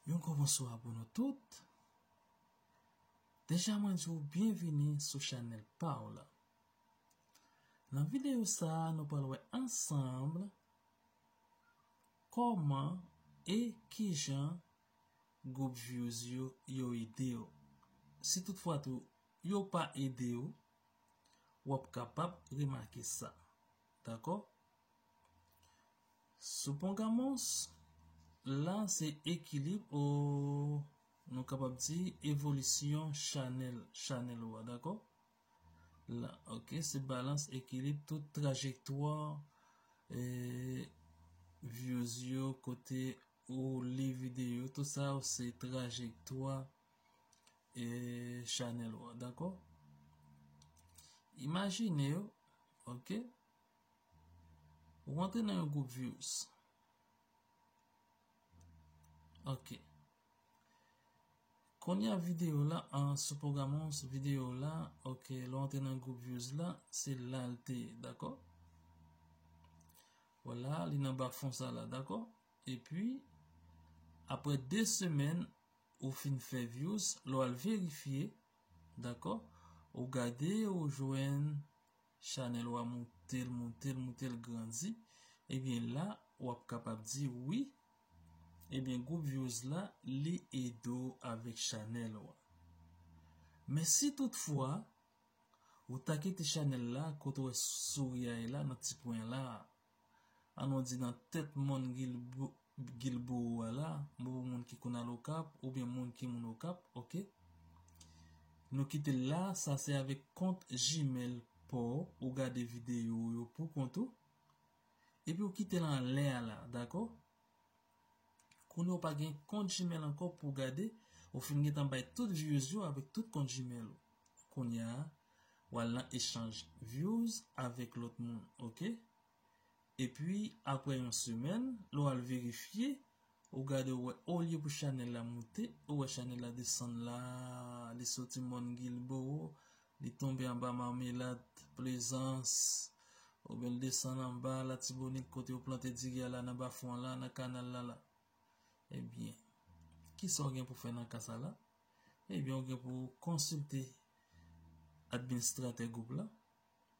Yon gwo bonswa pou nou tout. Deja mwen di w byenvini sou chanèl pa w la. Nan videyo sa a nou pral wè ansanm kòman e kijan gwoup vyouz yo yo ede w. Si tout fwa tou yo pa ede w, w ap kapab remake sa. Dakò? Soupongamos la se ekilib o nou kapab di evolisyon chanèl, chanèl ou a. Dakò? La, ok, se balans ekilib tout trajektwa e vyouz yo kote ou li videyo. Tout sa yo se trajektwa. e chanel ou an dako imajine yo ok ou antre nan yon group virus ok konye a video la an sou program ou an sou video ou la ok lou antre nan group virus la se lalte dako wala li nan ba fon sa la dako e pi apre 2 semen ou fin fè views lè w al verifye dakò ou gade ou jwenn chanèl ou a moute l moute l moute l grandi ebyen la wap kapab di wi ebyen group views la li ede w avèk chanèl ou a men si tout fwa ou ta kite chanèl la kote w wè souri a ye la nan ti pwen la. An nou di nan tèt mòn Guilbourou a la, m pou moun ki konn al Okap oubyen moun ki moun Okap, ok. Nou kite l la, sa se avèk kont Gmail pa w, ou gade videyo w yo pou kont ou. Epi ou kite l anlè a la, dakò? Kounye w pa gen kont Gmail ankò pou w gade, ou fin gen tan bay tout views yo avèk tout kont Gmail ou. Kounya w al nan echanj views avèk lòt moun ok. Epi aprè yon semèn lè w al verifye ou gade ou wè olye pou chanèl la moute ou wè chanèl la desann la li soti Mòn Guilbeault Li tonbe anba Marmelade, Plaisance, oubyen l desann anba Latibonit kote yo plante diri a la nan Bafou an la, nan kanal la la. Ebyen, kisa w gen pou fè nan ka sa la? Ebyen ou gen pou konsilte administratè gwoup la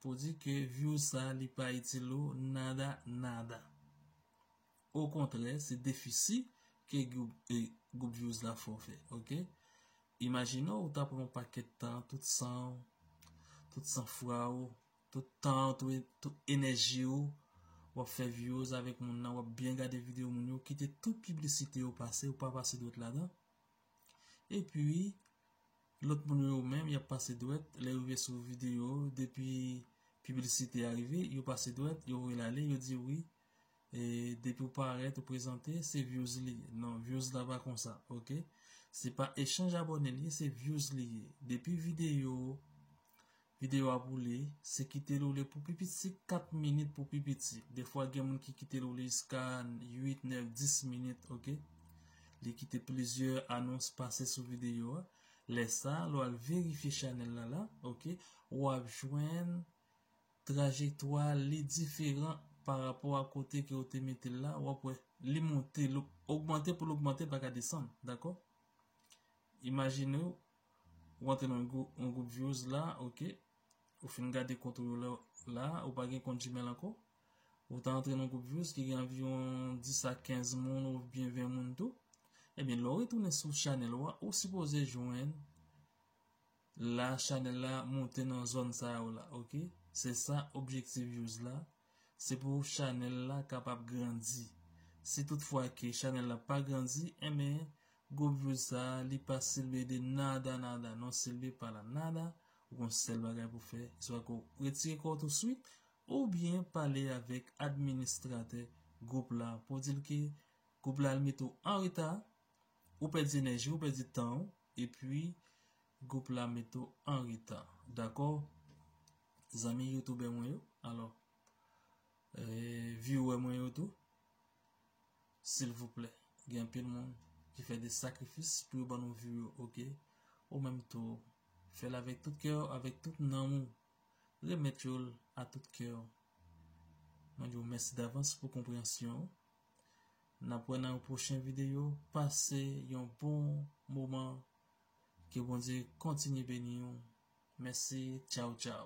pou di ke views sa li pa itil ou nada nada. Okontrè se defisi ke group vyouz la fè w fè ok. Imajine w ou ta pran yon pakèt tan, tout san w, tout san fwa w, tout tan w, tout enèji w, w ap fè vyouz avèk moun nan, w ap byen gade videyo moun yo, kite tout piblisite yo pase, ou pa pase dwèt ladan. E pi, lòt moun yo yo menm, y ap pase dwèt, lè yo rive sou videyo, depi piblisite a rive, yo pase dwèt, yo voye l ale, yo di wi. e depi ou parèt ou prezante se vyouz li ye non vyouz la pa konsa ok se pa echanj abòne li ye se vyouz li ye depi video video a boule se kite l ou le pou pi piti se 4 minit pou pi piti defwa gen moun ki kite l ou le jiska 8 9 10 minit ok li kite plizyè anons pase sou video a lè sa lè ou al verifye chanèl la la ok ou ap jwenn trajektwa li diferan pa rapò a kote ke ou te mete l la, w ap wè li monte, l ogmante pou l ogmante, l pa ka desann, dakò? Imajine w, ou antre nan yon gwoup vyoz la, ok, ou fin gade kont ou yo la, la a, ou pa gen kont Gmail ankò, ou ta antre nan gwoup vyoz ki gen anviwon 10 a 15 moun ou byen 20 moun tou, ebyen lè w retounen sou chanèl ou a, ou sipoze jwenn La chanel la moute nan zòn sa yo la ok se sa objektif vyouz la se pou chanel la kapab grandi si tout fwa ke chanel la pa grandi enben gwo vyouz sa li pa silve de nada nada non silve para nada ou gon sèl bagay pou fè swa ke w retire kòw tou swit ou byen pale avèk administratè gwoup la pou w di l ke gwoup la al mete w anreta Ou pèdi enèji, ou pèdi tan ou, epi gwoup la mete w an reta. Dakò zanmi youtoubè mwen yo, alò viewè mwen yo tou, silvouplè, gen anpil moun ki fè de sakrifis pou yo ban nou view yo, ok? Ou menm tou, fè l avèk tout kè w, avèk tout nanm ou, remèt yo l a tout kè w. Mwen di w mèsi davans pou konpreyansyon ou. Nap wè nan yon pwochen videyo pase yon bon moman ke Bondye kontinye beniw mèsi tchawtchaw.